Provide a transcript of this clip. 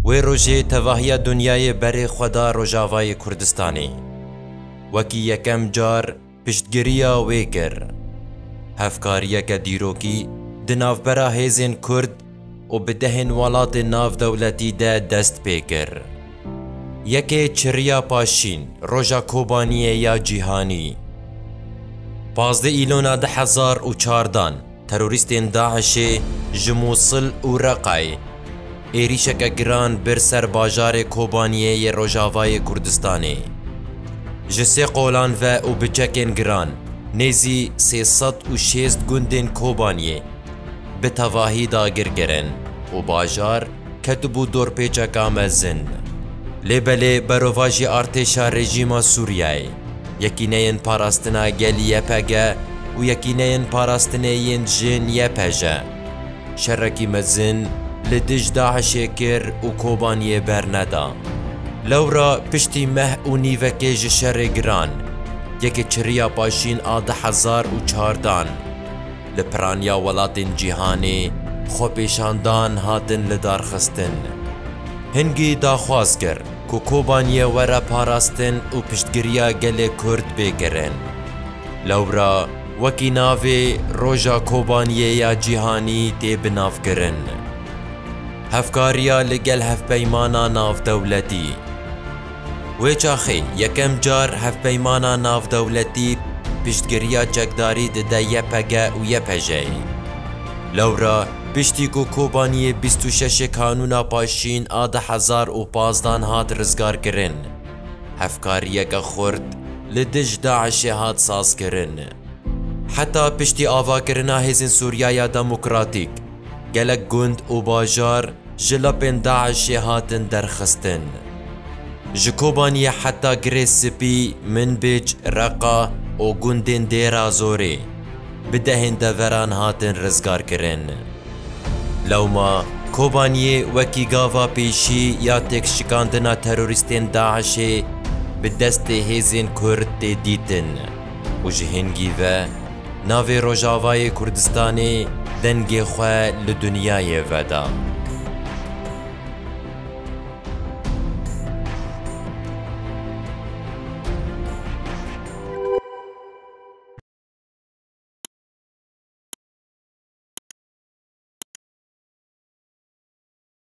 Wê rojê tevahiya dunyayê berê xwe da Rojavayê Kurdistanê. Wekî yekem car piştgiriya wê kir. Hevkariyeke dîrokî di navbera hêzên Kurd û bi dehên welatên navdewletî de dest pê kir. Yekê çirriya paşîn, Roja Kobaniyê ya Cîhanî. Pazdeh Îlona du hezar û çardan terorîstên DAIŞ'ê ji Mûsil û Reqayê êrîşeke giran bir ser bajarê Kobaniyê yê Rojavayê Kurdistanê. Ji sê qolan ve û bi çekên giran nêzî sê sed û şêst gundên Kobaniyê, bi tevahî dagir kirin û bajar ketibû dorpêçeka mezin. Lê belê berovajî artêşa rejîma Sûriyeyê, Yekîneyên Parastina Gelî YPG û Yekîneyên Parastinê yên Jin YPJ, şerekî mezin li dij DAIŞ'ê kir û Kobaniyê berneda. Lewra piştî meh û nîvekê ji şerê giran, yekê çiriya paşîn a du hezar û çar dan. li piraniya welatên cîhanê xwepêşandan hatin lidarxistin. Hingî daxwaz kir ku Kobaniyê were parastin û piştgiriya gelê Kurd bê kirin. Lewra wekî navê Roja Kobaniyê ya Cîhanî tê bi nav kirin. Hevkariya li gel hevpeymana navdewletî. Wê çaxê yekem car hevpeymana navdewletî piştgiriya çekdarî dide YPG û YPJ'ê. Lewra piştî ku Kobaniyê bîst û şeşê Kanûna Paşîn a du hezar û pazdeh hat rizgarkirin, hevkariyeke xurt li dij DAIŞ'ê hat sazkirin. Heta piştî avakirina Hêzên Sûriyaya Demokratîk, Gelek gund û bajar ji lapên DAIŞ'ê hatin derxistin. Ji Kobaniyê heta Girê Spî, Minbij, Reqa û gundên Dêrazorê bi dehên deveran hatin rizgarkirin. Lewma Kobaniyê wekî gava pêşî ya têkşikandina terorîstên DAIŞ'ê bi destê hêzên Kurd tê dîtin. û ji hingî ve navê Rojavayê Kurdistanê dengê xwe li dinyayê veda.